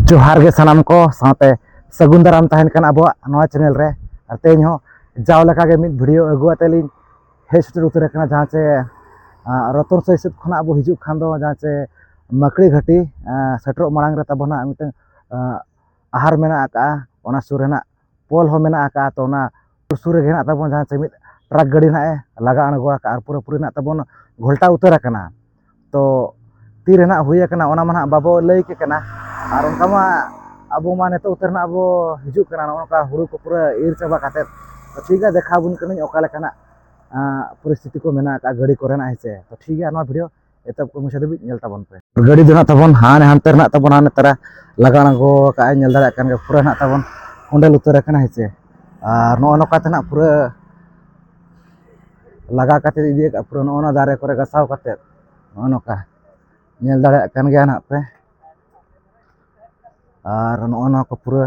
ᱡᱚᱦᱟᱨ ᱜᱮ ᱥᱟᱱᱟᱢ ᱠᱚ ᱥᱟᱶᱛᱮ ᱥᱟᱹᱜᱩᱱ ᱫᱟᱨᱟᱢ ᱛᱟᱦᱮᱱ ᱠᱟᱱ ᱟᱵᱚᱣᱟᱜ ᱱᱚᱣᱟ ᱪᱮᱱᱮᱞ ᱨᱮ ᱟᱨ ᱛᱮᱦᱮᱧ ᱦᱚᱸ ᱡᱟᱣ ᱞᱮᱠᱟᱜᱮ ᱢᱤᱫ ᱵᱷᱤᱰᱤᱭᱳ ᱟᱹᱜᱩ ᱟᱛᱮ ᱞᱤᱧ ᱦᱮᱡ ᱥᱮᱴᱮᱨ ᱩᱛᱟᱹᱨ ᱟᱠᱟᱱᱟ ᱡᱟᱦᱟᱸ ᱪᱮ ᱨᱚᱛᱚᱱ ᱥᱟᱹᱭ ᱥᱮᱫ ᱠᱷᱚᱱᱟᱜ ᱟᱵᱚ ᱦᱤᱡᱩᱜ ᱠᱷᱟᱱ ᱫᱚ ᱡᱟᱦᱟᱸ ᱪᱮ ᱢᱟᱹᱠᱲᱤ ᱜᱷᱟᱹᱴᱤ ᱥᱮᱴᱮᱨᱚᱜ ᱢᱟᱲᱟᱝ ᱨᱮ ᱛᱟᱵᱚᱱᱟ ᱢᱤᱫᱴᱟᱝ ᱟᱦᱟᱨ ᱢᱮᱱᱟᱜ ᱟᱠᱟᱫᱼᱟ ᱚᱱᱟ ᱥᱩᱨ ᱨᱮᱱᱟᱜ ᱯᱳᱞ ᱦᱚᱸ ᱢᱮᱱᱟᱜ ᱟᱠᱟᱫᱼᱟ ᱛᱚ ᱚᱱᱟ ᱥᱩᱨ ᱨᱮᱜᱮ ᱦᱮᱱᱟᱜ ᱛᱟᱵᱚᱱ ᱡᱟᱦᱟᱸ ᱪᱮ ᱢᱤᱫ ᱴᱨᱟᱠ ᱜᱟᱹᱰᱤ ᱱᱟᱦᱟᱜ ᱮ ᱞᱟᱜᱟ ᱟᱬᱜᱚ ᱟᱠᱟᱫᱼᱟ ᱟᱨ ᱯᱩᱨᱟᱹ ᱯᱩᱨᱤ ᱱᱟᱦᱟᱜ ᱛᱟᱵᱚᱱ ᱜᱷᱚᱞᱴᱟᱣ ᱩᱛᱟᱹᱨ ᱟᱠᱟᱱᱟ ᱛᱚ ᱛᱤᱨᱮ ᱱᱟᱦᱟᱜ ᱦᱩᱭ ᱟᱠᱟᱱᱟ ᱚᱱᱟ ᱢᱟ ᱱᱟᱦᱟᱜ ᱵᱟᱵᱚ ᱞᱟᱹᱭ ᱠᱮ ᱠᱟᱱᱟ ᱟᱨ ᱚᱱᱠᱟ ᱢᱟ ᱟᱵᱚ ᱢᱟ ᱱᱤᱛᱚᱜ ᱩᱛᱟᱹᱨ ᱱᱟᱦᱟᱜ ᱵᱚ ᱦᱤᱡᱩᱜ ᱠᱟᱱᱟ ᱱᱚᱜᱼᱚ ᱱᱚᱝᱠᱟ ᱦᱩᱲᱩ ᱠᱚ ᱯᱩᱨᱟᱹ ᱤᱨ ᱪᱟᱵᱟ ᱠᱟᱛᱮᱫ ᱴᱷᱤᱠ ᱜᱮᱭᱟ ᱫᱮᱠᱷᱟᱣ ᱟᱵᱚᱱ ᱠᱟᱹᱱᱟᱹᱧ ᱚᱠᱟ ᱞᱮᱠᱟᱱᱟᱜ ᱯᱚᱨᱤᱥᱛᱷᱤᱛᱤ ᱠᱚ ᱢᱮᱱᱟᱜ ᱟᱠᱟᱫᱼᱟ ᱜᱟᱹᱰᱤ ᱠᱚᱨᱮᱱᱟᱜ ᱦᱮᱸ ᱥᱮ ᱛᱚ ᱴᱷᱤᱠ ᱜᱮᱭᱟ ᱱᱚᱣᱟ ᱵᱷᱤᱰᱭᱳ ᱮᱛᱚᱦᱚᱵ ᱠᱷᱚᱱ ᱢᱩᱪᱟᱹᱫ ᱫᱷᱟᱹᱵᱤᱡ ᱧᱮᱞ ᱛᱟᱵᱚᱱ ᱯᱮ ᱜᱟᱹᱰᱤ ᱫᱚ ᱱᱟᱜ ᱛᱟᱵᱚᱱ ᱦᱟᱱᱮ ᱦᱟᱱᱛᱮ ᱨᱮᱱᱟᱜ ᱛᱟᱵᱚᱱ ᱦᱟᱱᱮ ᱛᱟᱨᱟ ᱞᱟᱜᱟ ᱟᱬᱜᱚ ᱠᱟᱜᱼᱟᱭ ᱧᱮᱞ ᱫᱟᱲᱮᱭᱟᱜ ᱠᱟᱱ ᱜᱮ ᱯᱩᱨᱟᱹ ᱱᱟᱜ ᱛᱟᱵᱚᱱ ᱠᱚᱸᱰᱮᱞ ᱩᱛᱟᱹᱨ ᱟᱠᱟᱱᱟ ᱦᱮᱸᱥᱮ ᱟᱨ ᱱᱚᱜᱼᱚ ᱱᱚᱝᱠᱟ ᱛᱮ ᱱᱟᱜ ᱯᱩᱨᱟᱹ ᱞᱟᱜᱟ ᱠᱟᱛᱮ ᱤᱫᱤ ᱟᱠᱟᱫ ᱯᱩᱨᱟᱹ ᱱᱚᱜᱼᱚ ᱱᱚᱣᱟ ᱫᱟᱨᱮ ᱠᱚᱨᱮ ᱜᱟᱥᱟᱣ ᱠᱟᱛᱮ ᱱᱚᱜᱼᱚ ᱱᱚᱝᱠᱟ ᱧᱮᱞ ᱫᱟᱲᱮᱭᱟᱜ ᱠᱟᱱ ᱜᱮᱭᱟ ᱱᱟᱜ ᱯᱮ ᱟᱨ ᱱᱚᱜᱼᱚ ᱱᱚᱣᱟ ᱠᱚ ᱯᱩᱨᱟᱹ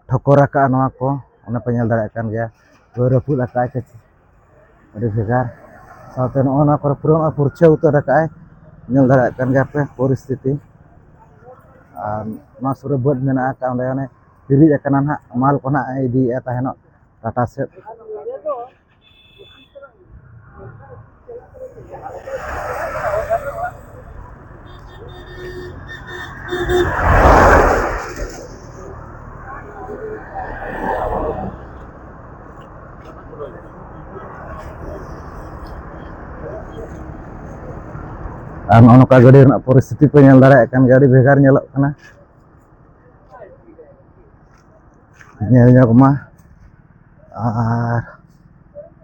ᱴᱷᱚᱠᱚᱨ ᱟᱠᱟᱫᱼᱟ ᱱᱚᱣᱟ ᱠᱚ ᱚᱱᱟ ᱯᱮ ᱧᱮᱞ ᱫᱟᱲᱮᱭᱟᱜ ᱠᱟᱱ ᱜᱮᱭᱟ ᱯᱩᱨᱟᱹ ᱨᱟᱹᱯᱩᱫ ᱟᱠᱟᱫᱼᱟᱭ ᱠᱟᱹᱡ ᱟᱹᱰᱤ ᱵᱷᱮᱜᱟᱨ ᱥᱟᱶᱛᱮ ᱱᱚᱜᱼᱚ ᱱᱚᱣᱟ ᱠᱚᱨᱮ ᱯᱩᱨᱟᱹ ᱱᱚᱜᱼᱚᱭ ᱯᱷᱩᱨᱪᱷᱟᱹ ᱩᱛᱟᱹᱨ ᱟᱠᱟᱫᱼᱟᱭ ᱧᱮᱞ ᱫᱟᱲᱮᱭᱟᱜ ᱠᱟᱱ ᱜᱮᱭᱟ ᱯᱮ ᱯᱚᱨᱤᱥᱛᱷᱤᱛᱤ ᱟᱨ ᱱᱚᱣᱟ ᱥᱩᱨ ᱨᱮ ᱵᱟᱹᱫᱽ ᱢᱮᱱᱟᱜ ᱟᱠᱟᱫᱼᱟ ᱚᱸᱰᱮ ᱚᱱᱮ ᱦᱤᱨᱤᱡ ᱟᱠᱟᱱᱟ ᱦᱟᱸᱜ ᱢᱟᱞ ᱠᱚ ᱦᱟᱸᱜ ᱤᱫᱤᱭᱮᱫᱼᱟ ᱛᱟᱦᱮᱱᱚᱜ ᱴᱟᱴᱟ ᱥᱮᱫ ᱟᱨ ᱱᱚᱜᱼᱚ ᱱᱚᱝᱠᱟ ᱜᱟᱹᱰᱤ ᱨᱮᱱᱟᱜ ᱯᱚᱨᱤᱥᱛᱷᱤᱛᱤ ᱯᱮ ᱧᱮᱞ ᱫᱟᱲᱮᱭᱟᱜ ᱠᱟᱱ ᱜᱮᱭᱟ ᱟᱹᱰᱤ ᱵᱷᱮᱜᱟᱨ ᱧᱮᱞᱚᱜ ᱠᱟᱱᱟ ᱧᱮᱞ ᱧᱚᱜᱽ ᱢᱟ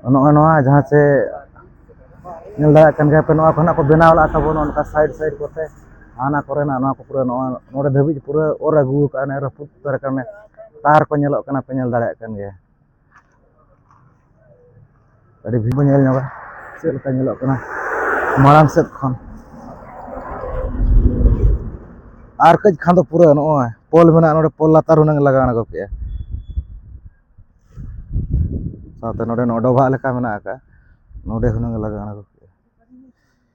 ᱟᱨ ᱱᱚᱜᱼᱚᱭ ᱱᱚᱣᱟ ᱡᱟᱦᱟᱸ ᱪᱮ ᱧᱮᱞ ᱫᱟᱲᱮᱭᱟᱜ ᱠᱟᱱ ᱜᱮᱭᱟᱯᱮ ᱱᱚᱣᱟ ᱠᱚ ᱱᱟᱦᱟᱜ ᱠᱚ ᱵᱮᱱᱟᱣ ᱞᱟᱜᱼᱟ ᱛᱟᱵᱚᱱ ᱱᱚᱜᱼᱚ ᱱᱚᱝᱠᱟ ᱥᱟᱭᱤᱰ ᱥᱟᱭᱤᱰ ᱠᱚᱛᱮ ᱦᱟᱱᱟ ᱠᱚᱨᱮᱱᱟᱜ ᱱᱚᱣᱟ ᱠᱚ ᱯᱩᱨᱟᱹ ᱱᱚᱜᱼᱚᱭ ᱱᱚᱰᱮ ᱫᱷᱟᱹᱵᱤᱡ ᱯᱩᱨᱟᱹ ᱚᱨ ᱟᱹᱜᱩ ᱠᱟᱜᱼᱟ ᱚᱱᱮ ᱨᱟᱹᱯᱩᱫ ᱩᱛᱟᱹᱨ ᱠᱟᱱᱟ ᱛᱟᱨ ᱠᱚ ᱧᱮᱞᱚᱜ ᱠᱟᱱᱟ ᱯᱮ ᱧᱮᱞ ᱫᱟᱲᱮᱭᱟᱜ ᱠᱟᱱ ᱜᱮᱭᱟ ᱟᱹᱰᱤ ᱵᱷᱤᱲ ᱵᱚᱱ ᱧᱮᱞ ᱧᱚᱜᱟ ᱪᱮᱫ ᱞᱮᱠᱟ ᱧᱮᱞᱚᱜ ᱠᱟᱱᱟ ᱢᱟᱲᱟᱝ ᱥᱮᱫ ᱠᱷᱚᱱ ᱟᱨ ᱠᱟᱹᱡ ᱠᱷᱟᱱ ᱫᱚ ᱯᱩᱨᱟᱹ ᱱᱚᱜᱼᱚᱭ ᱯᱳᱞ ᱢᱮᱱᱟᱜᱼᱟ ᱱᱚᱰᱮ ᱯᱳᱞ ᱞᱟᱛᱟᱨ ᱦᱩᱱᱟᱹᱝ ᱞᱟᱜᱟᱣ ᱟᱬᱜᱚ ᱠᱮᱜᱼᱟ ᱥᱟᱶᱛᱮ ᱱᱚᱰᱮ ᱱᱚᱣᱟ ᱰᱚᱵᱷᱟᱜ ᱞᱮᱠᱟ ᱢᱮᱱᱟᱜ ᱟᱠᱟᱫᱼᱟ ᱱᱚᱰᱮ ᱦᱩᱱᱟᱹᱝ ᱞᱟᱜᱟᱣ ᱟᱬᱜᱚ ᱠᱮᱜᱼᱟ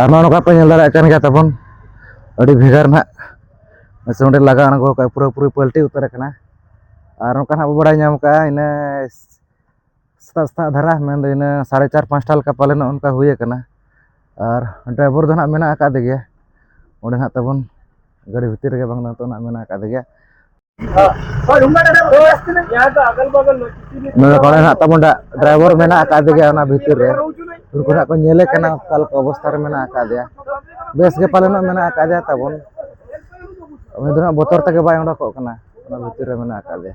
ᱟᱨ ᱱᱚᱜᱼᱚ ᱱᱚᱝᱠᱟ ᱯᱮ ᱧᱮᱞ ᱫᱟᱲᱮᱭᱟᱜ ᱠᱟᱱ ᱜᱮᱭᱟ ᱛᱟᱵᱚᱱ ᱟᱹᱰᱤ ᱵᱷᱮᱜᱟᱨ ᱱᱟᱜ ᱥᱮ ᱚᱸᱰᱮ ᱞᱟᱜᱟ ᱟᱬᱜᱚ ᱠᱟᱜᱼᱟ ᱯᱩᱨᱟᱹ ᱯᱩᱨᱤ ᱯᱟᱞᱴᱤ ᱩᱛᱟᱹᱨ ᱟᱠᱟᱱᱟ ᱟᱨ ᱱᱚᱝᱠᱟ ᱱᱟᱜ ᱵᱚ ᱵᱟᱲᱟᱭ ᱧᱟᱢ ᱠᱟᱜᱼᱟ ᱤᱱᱟᱹ ᱥᱮᱛᱟᱜ ᱥᱮᱛᱟᱜ ᱫᱷᱟᱨᱟ ᱢᱮᱱᱫᱚ ᱤᱱᱟᱹ ᱥᱟᱲᱮ ᱪᱟᱨ ᱯᱟᱸᱪᱴᱟ ᱞᱮᱠᱟ ᱯᱟᱞᱮᱱᱚᱜ ᱚᱱᱠᱟ ᱦᱩᱭ ᱟᱠᱟᱱᱟ ᱟᱨ ᱰᱨᱟᱭᱵᱷᱚᱨ ᱫᱚ ᱱᱟᱜ ᱢᱮᱱᱟᱜ ᱟᱠᱟᱫᱮ ᱜᱮᱭᱟ ᱚᱸᱰᱮ ᱱᱟᱜ ᱛᱟᱵᱚᱱ ᱜᱟᱹᱰᱤ ᱵᱷᱤᱛᱤᱨ ᱨᱮᱜᱮ ᱵᱟᱝ ᱱᱤᱛᱚᱜ ᱱᱟᱜ ᱢᱮᱱᱟᱜ ᱟᱠᱟᱫᱮ ᱜᱮᱭᱟ ᱱᱚᱰᱮ ᱠᱚᱲᱟ ᱦᱮᱱᱟᱜ ᱛᱟᱵᱚᱱ ᱰᱨᱟᱭᱵᱷᱟᱨ ᱢᱮᱱᱟᱜ ᱟᱠᱟᱫ ᱜᱮᱭᱟ ᱚᱱᱟ ᱵᱷᱤᱛᱤᱨ ᱨᱮ ᱩᱱᱠᱩ ᱦᱟᱸᱜ ᱠᱚ ᱧᱮᱞᱮ ᱠᱟᱱᱟ ᱚᱠᱟ ᱞᱮᱠᱟ ᱚᱵᱚᱥᱛᱟ ᱨᱮ ᱢᱮᱱᱟᱜ ᱟᱠᱟᱫᱮᱭᱟ ᱵᱮᱥ ᱜᱮ ᱯᱟᱞᱮᱱᱚᱜ ᱢᱮᱱᱟᱜ ᱟᱠᱟᱫᱮᱭᱟ ᱛᱟᱵᱚᱱ ᱩᱱᱤ ᱫᱚ ᱦᱟᱸᱜ ᱵᱚᱛᱚᱨ ᱛᱮᱜᱮ ᱵᱟᱭ ᱚᱰᱚᱠᱚᱜ ᱠᱟᱱᱟ ᱚᱱᱟ ᱵᱷᱤᱛᱤᱨ ᱨᱮ ᱢᱮᱱᱟᱜ ᱟᱠᱟᱫᱮᱭᱟ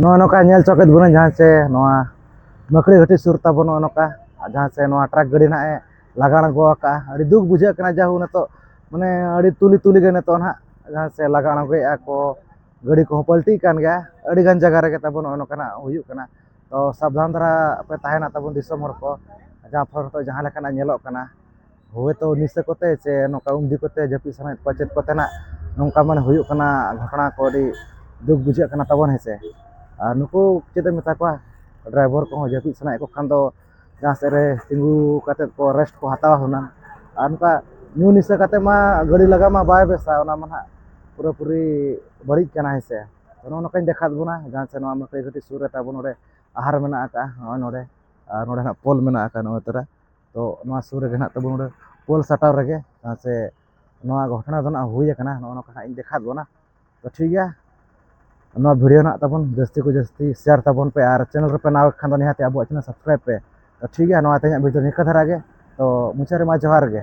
ᱱᱚᱜᱼᱚ ᱱᱚᱝᱠᱟ ᱧᱮᱞ ᱪᱚᱠᱮᱫ ᱵᱚᱱᱟᱹᱧ ᱡᱟᱦᱟᱸ ᱥᱮ ᱱᱚᱣᱟ ᱢᱟᱹᱠᱲᱤ ᱜᱷᱟᱹᱴᱤ ᱥᱩᱨ ᱛᱟᱵᱚᱱ ᱱᱚᱜᱼᱚ ᱱᱚᱝᱠᱟ ᱡᱟᱦᱟᱸ ᱥᱮ ᱱᱚᱣᱟ ᱴᱨᱟᱠ ᱜᱟᱹᱰᱤ ᱱᱟᱜ ᱮ ᱞᱟᱜᱟᱲ ᱟᱬᱜᱚ ᱟᱠᱟᱜᱼᱟ ᱟᱹᱰᱤ ᱫᱩᱠ ᱵᱩᱡᱷᱟᱹᱜ ᱠᱟᱱᱟ ᱡᱟᱦᱳ ᱱᱤᱛᱚᱜ ᱢᱟᱱᱮ ᱟᱹᱰᱤ ᱛᱩᱞᱤ ᱛᱩᱞᱤ ᱜᱮ ᱱᱤᱛᱚᱜ ᱱᱟᱜ ᱡᱟᱦᱟᱸ ᱥᱮ ᱞᱟᱜᱟᱲ ᱟᱬᱜᱚᱭᱮᱫᱼᱟ ᱠᱚ ᱜᱟᱹᱰᱤ ᱠᱚᱦᱚᱸ ᱯᱟᱞᱴᱤᱜ ᱠᱟᱱ ᱜᱮᱭᱟ ᱟᱹᱰᱤ ᱜᱟᱱ ᱡᱟᱭᱜᱟ ᱨᱮᱜᱮ ᱛᱟᱵᱚᱱ ᱱᱚᱜᱼᱚᱭ ᱱᱚᱝᱠᱟᱱᱟᱜ ᱦᱩᱭᱩᱜ ᱠᱟᱱᱟ ᱛᱚ ᱥᱟᱵᱫᱷᱟᱱ ᱫᱷᱟᱨᱟ ᱯᱮ ᱛᱟᱦᱮᱱᱟ ᱛᱟᱵᱚᱱ ᱫᱤᱥᱚᱢ ᱦᱚᱲ ᱠᱚ ᱡᱟᱦᱟᱸ ᱯᱷᱚᱨ ᱛᱮ ᱡᱟᱦᱟᱸ ᱞᱮᱠᱟᱱᱟᱜ ᱧᱮᱞᱚᱜ ᱠᱟᱱᱟ ᱦᱳᱭ ᱛᱚ ᱱᱤᱥᱟᱹ ᱠᱚᱛᱮ ᱥᱮ ᱱᱚᱝᱠᱟ ᱩᱱᱫᱤ ᱠᱚᱛᱮ ᱡᱟᱹᱯᱤᱫ ᱥᱟᱱᱟᱭᱮᱫ ᱠᱚᱣᱟ ᱪᱮᱫ ᱠᱚᱛᱮᱱᱟᱜ ᱱᱚᱝᱠᱟ ᱢᱟᱱᱮ ᱦᱩᱭᱩᱜ ᱠᱟᱱᱟ ᱜᱷᱚᱴᱚᱱᱟ ᱠᱚ ᱟᱹᱰᱤ ᱫᱩᱠ ᱵᱩᱡᱷᱟᱹᱜ ᱠᱟᱱᱟ ᱛᱟᱵᱚᱱ ᱦᱮᱸᱥᱮ ᱟᱨ ᱱᱩᱠᱩ ᱪᱮᱫ ᱮᱢ ᱢᱮᱛᱟ ᱠᱚᱣᱟ ᱰᱨᱟᱭᱵᱷᱚᱨ ᱠᱚᱦᱚᱸ ᱡᱟᱹᱯᱤᱫ ᱥᱟᱱᱟᱭᱮᱫ ᱠᱚ ᱠᱷᱟᱱ ᱫᱚ ᱡᱟᱦᱟᱸ ᱥᱮᱫ ᱨᱮ ᱛᱤᱸᱜᱩ ᱠᱟᱛᱮ ᱠᱚ ᱨᱮᱥᱴ ᱠᱚ ᱦᱟᱛᱟᱣᱟ ᱦᱩᱱᱟᱹᱝ ᱟᱨ ᱱᱚᱝᱠᱟ ᱧᱩ ᱱᱤᱥᱟᱹ ᱠᱟᱛᱮ ᱢᱟ ᱜᱟᱹᱰᱤ ᱞᱟᱜᱟ ᱢᱟ ᱵᱟᱭ ᱵᱮᱥᱟ ᱚᱱᱟ ᱢᱟ ᱦᱟᱸᱜ ᱯᱩᱨᱟᱹ ᱯᱩᱨᱤ ᱵᱟᱹᱲᱤᱡ ᱠᱟᱱᱟ ᱦᱮᱸ ᱥᱮ ᱚᱱᱮ ᱚᱱᱟ ᱠᱚᱧ ᱫᱮᱠᱷᱟᱣᱟᱫ ᱵᱚᱱᱟ ᱡᱟᱦᱟᱸ ᱥᱮᱫ ᱱᱚᱣᱟ ᱢᱟᱹᱠᱟᱹᱭ ᱜᱷᱟᱹᱴᱤ ᱥᱩᱨ ᱨᱮ ᱛᱟᱵᱚᱱ ᱱᱚᱰᱮ ᱟᱦᱟᱨ ᱢᱮᱱᱟᱜ ᱟᱠᱟᱫᱼᱟ ᱱᱚᱜᱼᱚᱭ ᱱᱚᱰᱮ ᱟᱨ ᱱᱚᱰᱮ ᱦᱟᱸᱜ ᱯᱳᱞ ᱢᱮᱱᱟᱜ ᱟᱠᱟᱫᱼᱟ ᱱᱚᱜᱼᱚᱭ ᱛᱚᱨᱟ ᱛᱚ ᱱᱚᱣᱟ ᱥᱩᱨ ᱨᱮᱜᱮ ᱦᱟᱸᱜ ᱛᱟᱵᱚᱱ ᱱᱚᱰᱮ ᱯᱳᱞ ᱥᱟᱴᱟᱣ ᱨᱮᱜᱮ ᱡᱟᱦᱟᱸ ᱥᱮ ᱱᱚᱣᱟ ᱜᱷᱚᱴᱚᱱᱟ ᱫᱚ ᱦᱟᱸᱜ ᱦᱩᱭ ᱠᱟᱱᱟ ᱱᱚᱜᱼᱚ ᱱᱚᱝᱠᱟ ᱦᱟᱸᱜ ᱤᱧ ᱫᱮᱠᱷᱟᱣᱟᱫ ᱵᱚᱱᱟ ᱛᱚ ᱴᱷᱤᱠ ᱜᱮᱭᱟ ᱱᱚᱣᱟ ᱵᱷᱤᱰᱤᱭᱳ ᱱᱟᱜ ᱛᱟᱵᱚᱱ ᱡᱟᱹᱥᱛᱤ ᱠᱚ ᱡᱟᱹᱥᱛᱤ ᱥᱮᱭᱟᱨ ᱛᱟᱵᱚᱱ ᱯᱮ ᱟᱨ ᱪᱮᱱᱮᱞ ᱨᱮᱯᱮ ᱱᱟᱣᱟ ᱠᱷᱟᱱ ᱫᱚ ᱱᱤᱦᱟᱹᱛ ᱟᱵᱚᱣᱟᱜ ᱪᱮᱱᱮᱞ ᱥᱟᱵᱥᱠᱨᱟᱭᱤᱵᱽ ᱯᱮ ᱛᱚ ᱴᱷᱤᱠ ᱜᱮᱭᱟ ᱱᱚᱣᱟ ᱛᱮᱦᱮᱧᱟᱜ ᱵᱷᱤᱰᱤᱭᱳ ᱱᱤᱝᱠᱟᱹ ᱫᱷᱟᱨᱟ ᱜᱮ ᱛᱚ ᱢᱩᱪᱟᱹᱫ ᱨᱮᱢᱟ ᱡᱚᱦᱟᱨ ᱜᱮ